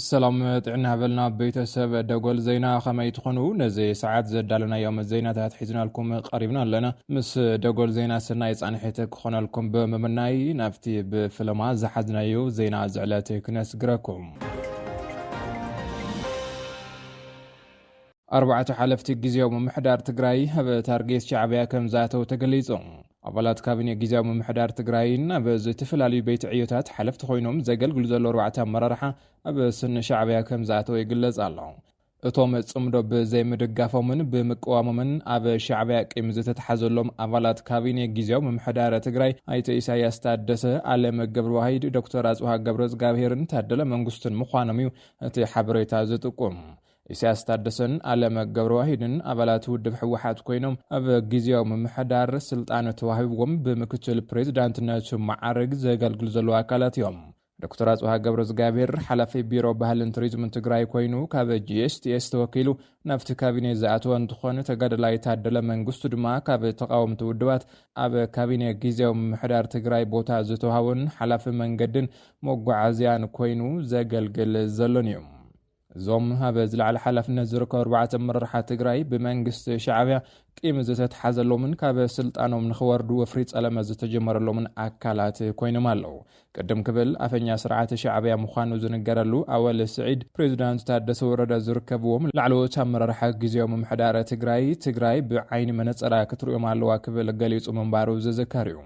ሰላም ጥዕና በልና ቤተሰብ ደጎል ዜና ከመይ ትኾኑ ነዚ ሰዓት ዘዳለናዮም ዜናታት ሒዝናልኩም ቀሪብና ኣለና ምስ ደጎል ዜና ስናይ ፃንሒት ክኾነልኩም ብምምናይ ናብቲ ብፍለማ ዝሓዝናዩ ዜና ዝዕለት ክነስግረኩም ኣርባዕተ ሓለፍቲ ግዜያዊ ምምሕዳር ትግራይ ኣብ ታርጌት ሻዕብያ ከም ዝኣተው ተገሊጹ። ኣባላት ካቢኔ ግዜያዊ ምምሕዳር ትግራይን ኣብ ዝተፈላለዩ ቤት ዕዮታት ሓለፍቲ ኮይኖም ዘገልግሉ ዘለዉ ኣርባዕተ ኣመራርሓ ኣብ ስኒ ሻዕብያ ከም ዝኣተው ይግለጽ ኣሎ። እቶም ጽምዶ ብዘይምድጋፎምን ብምቅዋሞምን ኣብ ሻዕብያ ቂም ዝተትሓዘሎም ኣባላት ካቢኔ ግዜያዊ ምምሕዳር ትግራይ ኣይተ ኢሳያስ ታደሰ፣ ኣለም ገብረዋሂድ፣ ዶክተር ኣጽብሃ ገብረእዝጋብሄርን ታደለ መንግስቱን ምዃኖም እዩ እቲ ሓበሬታ ዝጥቁም። ኢሳያስ ታደሰን ኣለም ገብረዋሂድን ኣባላት ውድብ ህወሓት ኮይኖም ኣብ ግዜያዊ ምምሕዳር ስልጣን ተዋሂብዎም ብምክትል ፕሬዚዳንትነት መዓርግ ዘገልግሉ ዘለዉ ኣካላት እዮም። ዶክተር ኣፅብሃ ገብረዝጋብሄር ሓላፊ ቢሮ ባህልን ቱሪዝምን ትግራይ ኮይኑ ካብ ጂኤስቲኤስ ተወኪሉ ናብቲ ካቢኔ ዝኣተወ እንትኾን ተጋደላይ ታደለ መንግስቱ ድማ ካብ ተቓወምቲ ውድባት ኣብ ካቢኔ ጊዜያዊ ምምሕዳር ትግራይ ቦታ ዝተውሃቦን ሓላፊ መንገድን መጓዓዝያን ኮይኑ ዘገልግል ዘሎን እዩ። እዞም ኣብ ዝለዓለ ሓላፍነት ዝርከቡ ኣርባዕተ ኣመራርሓ ትግራይ ብመንግስቲ ሻዕብያ ቂም ዝተትሓዘሎምን ካብ ስልጣኖም ንኽወርዱ ወፍሪ ጸለመ ዝተጀመረሎምን ኣካላት ኮይኖም ኣለዉ። ቅድም ክብል ኣፈኛ ስርዓት ሻዕብያ ምዃኑ ዝንገረሉ ኣወል ስዒድ፣ ፕሬዚዳንት ታደሰ ወረደ ዝርከብዎም ላዕለዎት ኣመራርሓ ግዝያዊ ምምሕዳር ትግራይ፣ ትግራይ ብዓይኒ መነጸራ ክትርእዮም ኣለዋ ክብል ገሊጹ ምንባሩ ዝዝከር እዩ።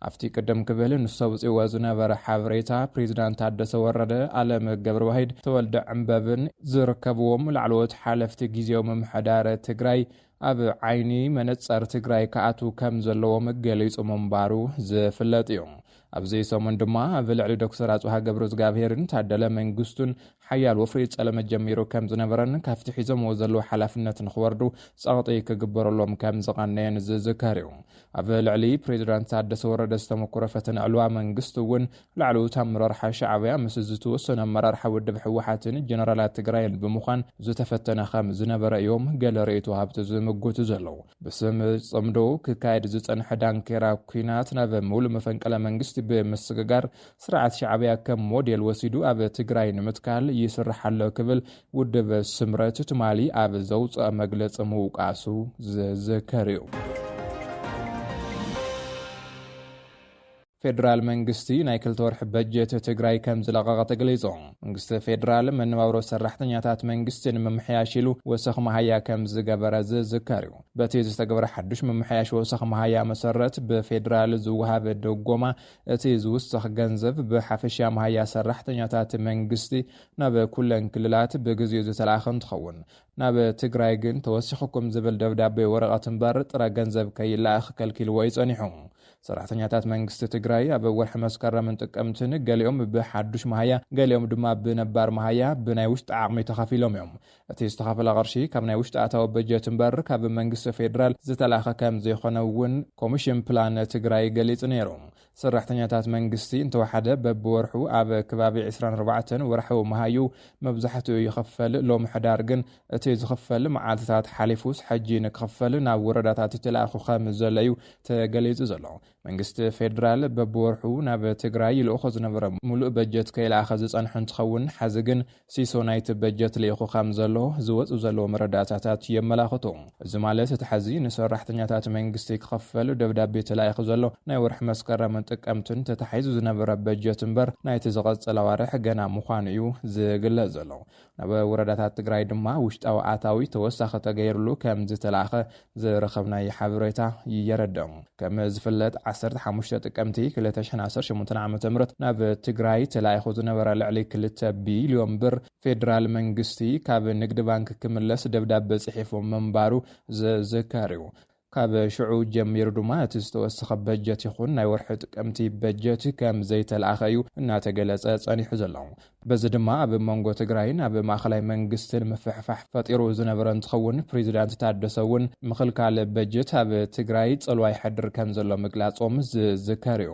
ኣብቲ ቅድም ክብል ንሱ ኣውጺእዎ ዝነበረ ሓበሬታ፣ ፕሬዚዳንት ታደሰ ወረደ፣ ኣለም ገብረዋሂድ፣ ተወልደ ዕንበብን ዝርከብዎም ላዕለዎት ሓለፍቲ ጊዜያዊ ምምሕዳር ትግራይ ኣብ ዓይኒ መነፀር ትግራይ ክኣትው ከምዘለዎም ገሊፁ ምንባሩ ዝፍለጥ እዩ። ኣብዚ ሰሙን ድማ ኣብ ልዕሊ ዶክተር ኣፅብሃ ገብረእዝጋብሄርን ታደለ መንግስቱን ሓያል ወፍሪ ፀለመ ጀሚሩ ከምዝነበረን ካብቲ ሒዞምዎ ዘለዉ ሓላፍነት ንክወርዱ ፀቕጢ ክግበረሎም ከምዝቐነየን ዝዝከር እዩ። ኣብ ልዕሊ ፕሬዚዳንት ታደሰ ወረደ ዝተመኮረ ፈተነ ዕልዋ መንግስቲ እውን ላዕለዎት ኣመራርሓ ሻዕብያ ምስ ዝተወሰኑ ኣመራርሓ ውድብ ህወሓትን ጀነራላት ትግራይን ብምዃን ዝተፈተነ ከም ዝነበረ እዮም ገለ ርእይቶ ወሃብቲ ዝምጉቱ ዘለዉ። ብስም ፅምዶ ክካየድ ዝፀንሐ ዳንኬራ ኲናት ናብ ምሉ መፈንቅለ መንግስቲ ብምስግጋር ስርዓት ሻዕብያ ከም ሞዴል ወሲዱ ኣብ ትግራይ ንምትካል ይስራሕ ኣሎ ክብል ውድብ ስምረት ትማሊ ኣብ ዘውፅኦ መግለፂ ምውቃሱ ዝዝከር እዩ። ፌደራል መንግስቲ ናይ ክልተ ወርሒ በጀት ትግራይ ከም ዝለቐቐ ተገሊጹ። መንግስቲ ፌደራል መነባብሮ ሰራሕተኛታት መንግስቲ ንምምሕያሽ ኢሉ ወሰኽ መሃያ ከም ዝገበረ ዝዝከር እዩ። በቲ ዝተገበረ ሓዱሽ ምምሕያሽ ወሰኽ መሃያ መሰረት ብፌደራል ዝወሃብ ደጎማ እቲ ዝውሰኽ ገንዘብ ብሓፈሻ መሃያ ሰራሕተኛታት መንግስቲ ናብ ኩለን ክልላት ብግዚኡ ዝተልኣኸ እንትኸውን፣ ናብ ትግራይ ግን ተወሲኹኩም ዝብል ደብዳቤ ወረቐት እምበር ጥረ ገንዘብ ከይለኣኽ ከልኪልዎ እዩ ፀኒሑ። ሰራሕተኛታት መንግስቲ ትግራይ ኣብ ወርሒ መስከረምን ጥቅምትን ገሊኦም ብሓዱሽ መሃያ ገሊኦም ድማ ብነባር መሃያ ብናይ ውሽጢ ዓቕሚ ተኸፊሎም እዮም። እቲ ዝተኸፈለ ቅርሺ ካብ ናይ ውሽጢ ኣታዊ በጀት እምበር ካብ መንግስቲ ፌዴራል ዝተላእከ ከምዘይኾነ እውን ኮሚሽን ፕላን ትግራይ ገሊፁ ነይሩ። ሰራሕተኛታት መንግስቲ እንተወሓደ በቢወርሑ ኣብ ከባቢ ዕስራን ኣርባዕተን ወርሓዊ መሃዩ መብዛሕትኡ ይኽፈል። ሎሚ ሕዳር ግን እቲ ዝኽፈል መዓልቲታት ሓሊፉስ ሕጂ ንክኽፈል ናብ ወረዳታት ተላኢኹ ከምዘሎ እዩ ተገሊፁ ዘሎ። መንግስቲ ፌደራል በብወርሑ ናብ ትግራይ ይልእኾ ዝነበረ ሙሉእ በጀት ከይልኣኸ ዝፀንሐ እንትኸውን ሐዚ ግን ሲሶ ናይቲ በጀት ልኢኹ ከምዘሎ ዝወፁ ዘለዉ መረዳእታታት የመላኽቱ። እዚ ማለት እቲ ሐዚ ንሰራሕተኛታት መንግስቲ ክኽፈል ደብዳቤ ተላኢኹ ዘሎ ናይ ወርሒ መስከረምን ጥቅምትን ተታሒዙ ዝነበረ በጀት እምበር ናይቲ ዝቐፅል ኣዋርሕ ገና ምዃኑ እዩ ዝግለፅ ዘሎ። ናብ ወረዳታት ትግራይ ድማ ውሽጣዊ ኣታዊ ተወሳኺ ተገይርሉ ከምዝተላእኸ ዝረኸብናዮ ሓበሬታ የረድእ። ከም ዝፍለጥ ዓሰርተ ሓሙሽተ ጥቅምቲ ክልተ ሽሕን ዓሰርተ ሸሞንተን ዓመተ ምህረት ናብ ትግራይ ተላኢኹ ዝነበረ ልዕሊ ክልተ ቢልዮን ብር ፌዴራል መንግስቲ ካብ ንግድ ባንክ ክምለስ ደብዳበ ፅሒፉ ምንባሩ ዝዝከር እዩ። ካብ ሽዑ ጀሚሩ ድማ እቲ ዝተወሰኸ በጀት ይኹን ናይ ወርሒ ጥቅምቲ በጀት ከም ዘይተልኣኸ እዩ እናተገለፀ ፀኒሑ ዘሎ። በዚ ድማ ኣብ መንጎ ትግራይን ኣብ ማእኸላይ መንግስትን ምፍሕፋሕ ፈጢሩ ዝነበረ እንትኸውን ፕሬዚዳንት ታደሰ እውን ምኽልካል በጀት ኣብ ትግራይ ፅልዋ የሕድር ከም ዘሎ ምግላፆም ዝዝከር እዩ።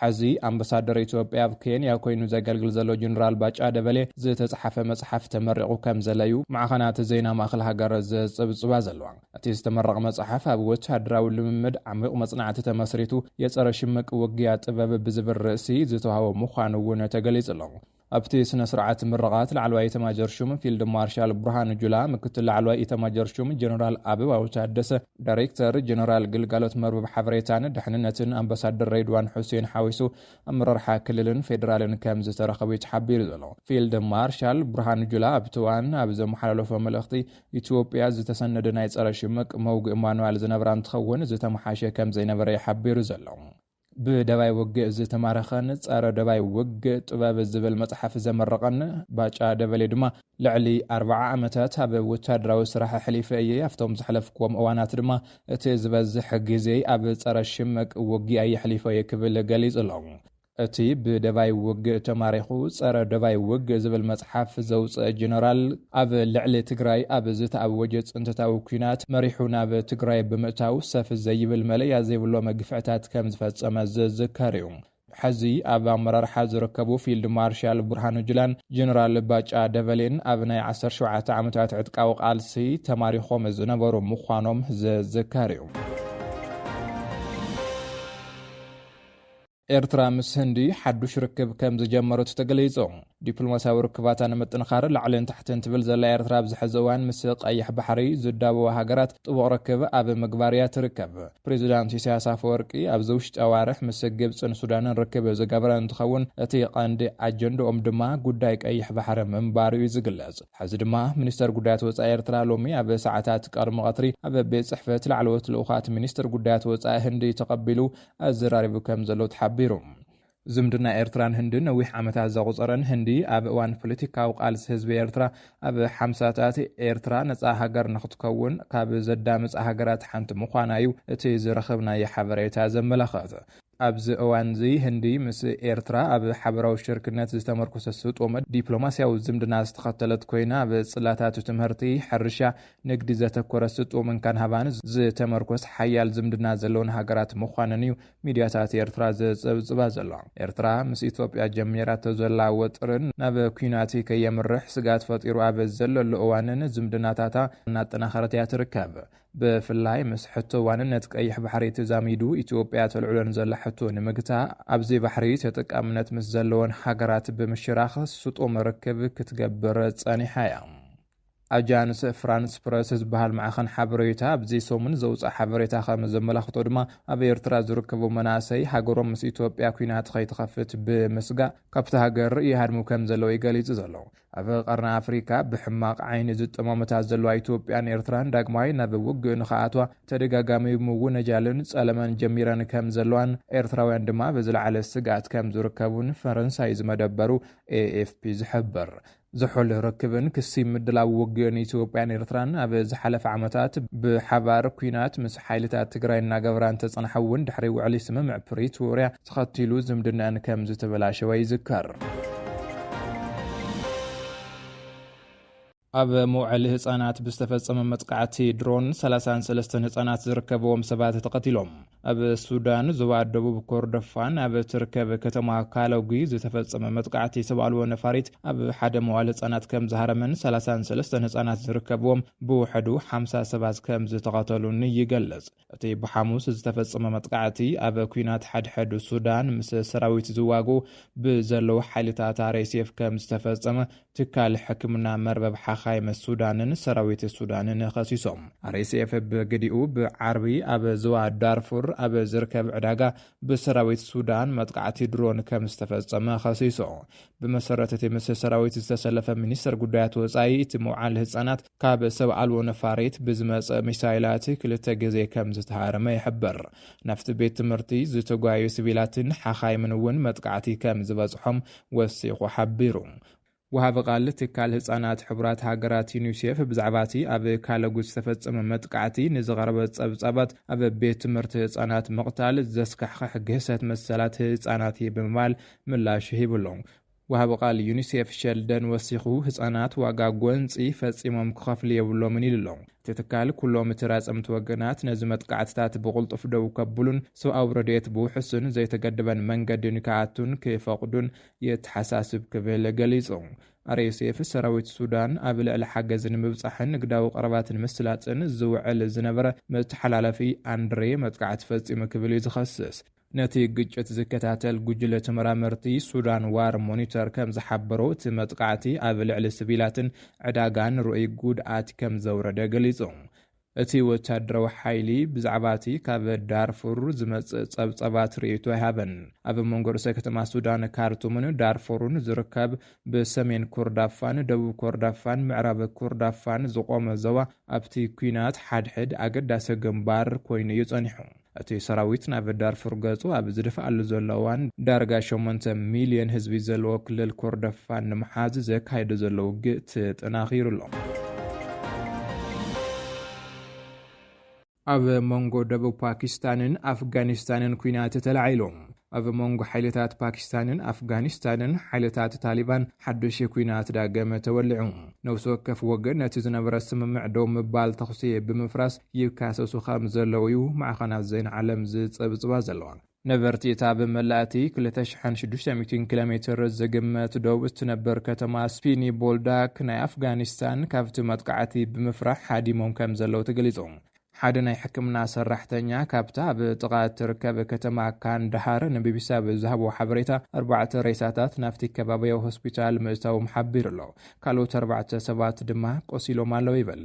ሐዚ ኣምበሳደር ኢትዮጵያ ኣብ ኬንያ ኮይኑ ዘገልግል ዘሎ ጀነራል ባጫ ደበሌ ዝተፅሓፈ መፅሓፍ ተመሪቑ ከምዘለ ዩ ማዕኸናት ዜና ማእኸል ሃገር ዝፅብፅባ ዘለዋ። እቲ ዝተመረቐ መፅሓፍ ኣብ ወታደራዊ ልምምድ ዓሚዩቕ መፅናዕቲ ተመስሪቱ የፀረ ሽምቅ ውግያ ጥበብ ብዝብል ርእሲ ዝተውሃቦ ምዃኑ ውን ተገሊፁ ኣሎ። ኣብቲ ስነ ስርዓት ምርቓት ላዕለዋይ ኢተማጆር ሹም ፊልድ ማርሻል ብርሃኑ ጁላ፣ ምክትል ላዕለዋይ ኢተማጆር ሹም ጀነራል ኣበባው ታደሰ፣ ዳይሬክተር ጀነራል ግልጋሎት መርበብ ሓበሬታን ድሕንነትን ኣምባሳደር ሬድዋን ሑሴን ሓዊሱ ኣመራርሓ ክልልን ፌደራልን ከምዝተረኸቡ'ዩ ተሓቢሩ ዘሎ። ፊልድ ማርሻል ብርሃኑ ጁላ ኣብቲ እዋን ኣብ ዘመሓላለፎ መልእኽቲ፣ ኢትዮጵያ ዝተሰነደ ናይ ፀረ ሽምቅ መውግኢ ማንዋል ዝነበራ እንትኸውን ዝተመሓሸ ከምዘይነበረ'ዩ ሓቢሩ ዘሎ። ብደባይ ውግእ ዝተማረኸን ጸረ ደባይ ውግእ ጥበብ ዝብል መጽሓፍ ዘመረቐን ባጫ ደበሌ ድማ ልዕሊ ኣርብዓ ዓመታት ኣብ ወታደራዊ ስራሕ ኣሕሊፈ እየ። ኣብቶም ዘሕለፍክዎም እዋናት ድማ እቲ ዝበዝሕ ግዜይ ኣብ ጸረ ሽምቅ ውጊኣ የሕሊፎ እየ ክብል ገሊጹ ኣሎ። እቲ ብደባይ ውግእ ተማሪኹ ጸረ ደባይ ውግእ ዝብል መጽሓፍ ዘውጽአ ጀነራል፣ ኣብ ልዕሊ ትግራይ ኣብ ዝተኣወጀ ፅንተታዊ ኲናት መሪሑ ናብ ትግራይ ብምእታው ሰፍ ዘይብል መለያ ዘይብሎ መግፍዕታት ከም ዝፈፀመ ዝዝከር እዩ። ሐዚ ኣብ ኣመራርሓ ዝርከቡ ፊልድ ማርሻል ብርሃኑ ጁላን ጀነራል ባጫ ደበሌን ኣብ ናይ ዓሰርተ ሸውዓተ ዓመታት ዕጥቃዊ ቃልሲ ተማሪኾም ዝነበሩ ምዃኖም ዝዝከር እዩ። ኤርትራ ምስ ህንዲ ሓዱሽ ርክብ ከም ዝጀመረት ተገሊጹ። ዲፕሎማስያዊ ርክባታ ንምጥንኻር ላዕልን ታሕትን ትብል ዘላ ኤርትራ ኣብዚ ሕዚ እዋን ምስ ቀይሕ ባሕሪ ዝዳበዋ ሃገራት ጥቡቕ ርክብ ኣብ ምግባር እያ ትርከብ። ፕሬዚዳንት ኢሳያስ ኣፈወርቂ ኣብዚ ውሽጢ ኣዋርሕ ምስ ግብጽን ሱዳንን ርክብ ዝገበረ እንትኸውን እቲ ቀንዲ ኣጀንድኦም ድማ ጉዳይ ቀይሕ ባሕሪ ምንባሩ እዩ ዝግለጽ። ሕዚ ድማ ሚኒስተር ጉዳያት ወጻኢ ኤርትራ ሎሚ ኣብ ሰዓታት ቀርሚ ቀትሪ ኣብ ቤት ጽሕፈት ላዕለዎት ልኡኻት ሚኒስትር ጉዳያት ወጻኢ ህንዲ ተቐቢሉ ኣዘራሪቡ ከም ዘሎ ተሓቢሩ። ዝምድና ኤርትራን ህንድን ነዊሕ ዓመታት ዘቑጸረን ህንዲ ኣብ እዋን ፖለቲካዊ ቃልሲ ህዝቢ ኤርትራ ኣብ ሓምሳታት ኤርትራ ነጻ ሃገር ንኽትከውን ካብ ዘዳምጻ ሃገራት ሓንቲ ምዃና እዩ እቲ ዝረኸብናዮ ሓበሬታ ዘመላኽት። ኣብዚ እዋንዚ ህንዲ ምስ ኤርትራ ኣብ ሓበራዊ ሽርክነት ዝተመርኮሰ ስጡም ዲፕሎማስያዊ ዝምድና ዝተኸተለት ኮይና ኣብ ጽላታት ትምህርቲ፣ ሕርሻ፣ ንግዲ ዘተኮረ ስጡም እንካን ሃባን ዝተመርኮስ ሓያል ዝምድና ዘለወን ሃገራት ምዃነን እዩ ሚድያታት ኤርትራ ዘጸብጽባ ዘሎ። ኤርትራ ምስ ኢትዮጵያ ጀሚራቶ ዘላ ወጥሪ ናብ ኲናት ከየምርሕ ስግኣት ፈጢሩ ኣብ ዘለሉ እዋንን ዝምድናታታ እናጠናኸረት እያ ትርከብ። ብፍላይ ምስ ሕቶ ዋንነት ቀይሕ ባሕሪ ተዛሚዱ ኢትዮጵያ ተልዕሎ ንዘላ ሕቶ ንምግታእ ኣብዚ ባሕሪ ተጠቃምነት ምስ ዘለወን ሃገራት ብምሽራኽ ስጡም ርክብ ክትገብር ጸኒሓ እያ። ኣጃንስ ፍራንስ ፕረስ ዝበሃል ማዕኸን ሓበሬታ ኣብዚ ሰሙን ዘውጽኣ ሓበሬታ ከም ዘመላኽቶ ድማ ኣብ ኤርትራ ዝርከቡ መናእሰይ ሃገሮም ምስ ኢትዮጵያ ኩናት ከይትኸፍት ብምስጋእ ካብቲ ሃገር ይሃድሙ ከም ዘለዉ እዩ ገሊጹ ዘሎ። ኣብ ቀርኒ ኣፍሪካ ብሕማቕ ዓይኒ ዝጠማመታ ዘለዋ ኢትዮጵያን ኤርትራን ዳግማይ ናብ ውግእ ንኸኣትዋ ተደጋጋሚ ምውነጃልን ጸለመን ጀሚረን ከም ዘለዋን ኤርትራውያን ድማ ብዝለዓለ ስግኣት ከም ዝርከቡን ፈረንሳይ ዝመደበሩ ኤኤፍፒ ዝሕብር። ዝሑል ርክብን ክሲ ምድላው ውግእን ኢትዮጵያን ኤርትራን ኣብ ዝሓለፈ ዓመታት ብሓባር ኲናት ምስ ሓይልታት ትግራይ እናገበራ እንተጸንሓ እውን ድሕሪ ውዕሊ ስምምዕ ፕሪቶርያ ተኸቲሉ ዝምድነኣን ከም ዝተበላሸወ ይዝከር። ኣብ መውዐሊ ህፃናት ብዝተፈፀመ መጥቃዕቲ ድሮን 33 ህፃናት ዝርከበዎም ሰባት ተቐቲሎም። ኣብ ሱዳን ዞባ ደቡብ ኮርዶፋን ኣብ ትርከብ ከተማ ካሎጉ ዝተፈጸመ መጥቃዕቲ ሰብ ኣልቦ ነፋሪት ኣብ ሓደ መዋል ህጻናት ከም ዝሃረመን 33 ህጻናት ዝርከብዎም ብውሕዱ 50 ሰባት ከም ዝተቐተሉን ይገልጽ። እቲ ብሓሙስ ዝተፈጸመ መጥቃዕቲ ኣብ ኩናት ሓድሕድ ሱዳን ምስ ሰራዊት ዝዋግኡ ብዘለዉ ሓይልታት RSF ከም ዝተፈጸመ ትካል ሕክምና መርበብ ሓኻይም ሱዳንን ሰራዊት ሱዳንን ኸሲሶም። ኣርኤስኤፍ ብግዲኡ ብዓርቢ ኣብ ዞባ ዳርፉር ኣብ ዝርከብ ዕዳጋ ብሰራዊት ሱዳን መጥቓዕቲ ድሮን ከም ዝተፈጸመ ኸሲሱ። ብመሰረት እቲ ምስ ሰራዊት ዝተሰለፈ ሚኒስተር ጉዳያት ወጻኢ እቲ መውዓሊ ህጻናት ካብ ሰብ ኣልቦ ነፋሪት ብዝመጸ ሚሳይላት ክልተ ግዜ ከም ዝተሃረመ ይሕብር። ናብቲ ቤት ትምህርቲ ዝተጓየዩ ስቪላትን ሓኻይምን እውን መጥቓዕቲ ከም ዝበጽሖም ወሲኹ ሓቢሩ። ወሃቢ ቃል ትካል ህጻናት ሕቡራት ሃገራት ዩኒሴፍ ብዛዕባ እቲ ኣብ ካለጉት ዝተፈጸመ መጥቃዕቲ ንዝቐረበ ጸብጻባት ኣብ ቤት ትምህርቲ ህጻናት ምቕታል ዘስካሕኽሕ ግህሰት መሰላት ህጻናት እዩ ብምባል ምላሽ ሂቡ ኣሎ። ወሃቢ ቃል ዩኒሴፍ ሸልደን ወሲኹ ህጻናት ዋጋ ጎንጺ ፈጺሞም ክኸፍሉ የብሎምን ኢሉ ኣሎ። እቲ ትካል ኩሎም ተራጸምቲ ወገናት ነዚ መጥቃዕትታት ብቕልጡፍ ደው ከብሉን ሰብኣዊ ረድኤት ብውሑስን ዘይተገደበን መንገዲ ንክኣቱን ክፈቕዱን የተሓሳስብ ክብል ገሊጹ። RSF ሰራዊት ሱዳን ኣብ ልዕሊ ሓገዝ ንምብጻሕን ንግዳዊ ቀረባት ንምስላጥን ዝውዕል ዝነበረ መተሓላለፊ ኣንድሬ መጥቃዕቲ ፈጺሙ ክብል እዩ ዝኸስስ። ነቲ ግጭት ዝከታተል ጉጅለ ተመራመርቲ ሱዳን ዋር ሞኒተር ከም ዝሓበሮ፣ እቲ መጥቓዕቲ ኣብ ልዕሊ ስቪላትን ዕዳጋን ርኡይ ጉድኣት ከም ዘውረደ ገሊጹ። እቲ ወተሃደራዊ ሓይሊ ብዛዕባ እቲ ካብ ዳርፉር ዝመጽእ ጸብጻባት ርእይቶ ኣይሃበን። ኣብ መንጎ ርእሰ ከተማ ሱዳን ካርቱምን ዳርፉርን ዝርከብ ብሰሜን ኮርዳፋን ደቡብ ኮርዳፋን ምዕራብ ኮርዳፋን ዝቖመ ዞባ፣ ኣብቲ ኲናት ሓድሕድ ኣገዳሲ ግንባር ኮይኑ እዩ ጸኒሑ። እቲ ሰራዊት ናብ ዳርፉር ገጹ ኣብ ዝደፍኣሉ ዘሎ እዋን፣ ዳርጋ ሸሞንተ ሚልዮን ህዝቢ ዘለዎ ክልል ኮርዶፋን ንምሓዝ ዘካይዶ ዘሎ ውግእ ተጠናኺሩ ኣሎ። ኣብ መንጎ ደቡብ ፓኪስታንን ኣፍጋኒስታንን ኲናት ተላዒሉ። ኣብ መንጎ ሓይልታት ፓኪስታንን ኣፍጋኒስታንን ሓይልታት ታሊባን ሓዱሽ ኲናት ዳግም ተወሊዑ። ነብሲ ወከፍ ወገን ነቲ ዝነበረ ስምምዕ ደው ምባል ተኹሲ ብምፍራስ ይካሰሱ ከም ዘለዉ'ዩ ማዕኸናት ዜና ዓለም ዝጽብጽባ ዘለዋ። ነበርቲ እታ ኣብ መላእ እቲ ክልተ ሽሕን ሽዱሽተ ሚእትን ኪሎሜትር ዝግመት ዶብ እትነብር ከተማ ስፒኒ ቦልዳክ ናይ ኣፍጋኒስታን ካብቲ መጥቃዕቲ ብምፍራሕ ሃዲሞም ከም ዘለዉ ተገሊጹ። ሓደ ናይ ሕክምና ሰራሕተኛ ካብታ ኣብ ጥቓ እትርከብ ከተማ ካንዳሃር ንቢቢሲ ኣብ ዝሃቦ ሓበሬታ፣ ኣርባዕተ ሬሳታት ናብቲ ከባብያዊ ሆስፒታል ምእታዎም ሓቢሩ ኣሎ። ካልኦት ኣርባዕተ ሰባት ድማ ቆሲሎም ኣለዉ ይብል።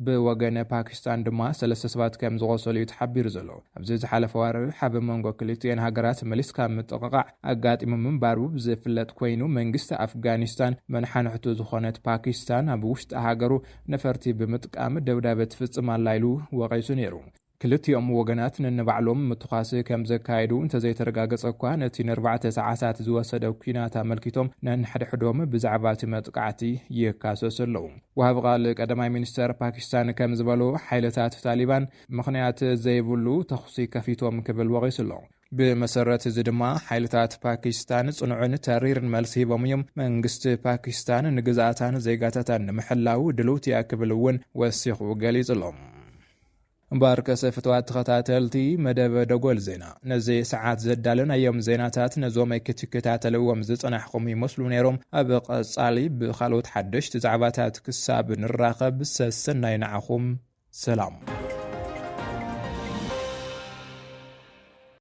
ብወገን ፓኪስታን ድማ ሰለስተ ሰባት ከም ዝቖሰሉ'ዩ ተሓቢሩ ዘሎ። ኣብዚ ዝሓለፈ ኣዋርሕ ኣብ መንጎ ክልቲኤን ሃገራት መሊስካ ምጥቕቓዕ ኣጋጢሙ ምንባሩ ዝፍለጥ ኰይኑ፣ መንግስቲ ኣፍጋኒስታን መነሓንሕቱ ዝዀነት ፓኪስታን ኣብ ውሽጢ ሃገሩ ነፈርቲ ብምጥቃም ደብዳበ ትፍጽም ኣላ ኢሉ ወቒሱ ነይሩ። ክልቲኦም ወገናት ነንባዕሎም ምትኳስ ከም ዘካየዱ እንተዘይተረጋገጸ'ኳ፣ ነቲ ንኣርባዕተ ሰዓታት ዝወሰደ ኲናት ኣመልኪቶም ነንሕድሕዶም ብዛዕባ እቲ መጥቃዕቲ ይካሰሱ ኣለዉ። ወሃቢ ቓል ቀዳማይ ሚኒስተር ፓኪስታን ከም ዝበሎ፣ ሓይልታት ታሊባን ምኽንያት ዘይብሉ ተዅሲ ከፊቶም ክብል ወቒሱ ኣሎ። ብመሰረት እዚ ድማ ሓይልታት ፓኪስታን ጽኑዕን ተሪርን መልሲ ሂቦም እዮም። መንግስቲ ፓኪስታን ንግዝኣታን ዜጋታታን ንምሕላው ድልውቲ እያ ክብል እውን ወሲኹ ገሊጹ ኣሎ። እምበኣርከሰ ፍትዋት ተኸታተልቲ መደብ ደጎል ዜና ነዚ ሰዓት ዘዳለናዮም ዜናታት ነዞም ክትከታተልዎም ዝጸናሕኹም ይመስሉ ነይሮም። ኣብ ቐጻሊ ብኻልኦት ሓደሽቲ ዛዕባታት ክሳብ ንራኸብ ሰሰናዩ ንዓኹም። ሰላም።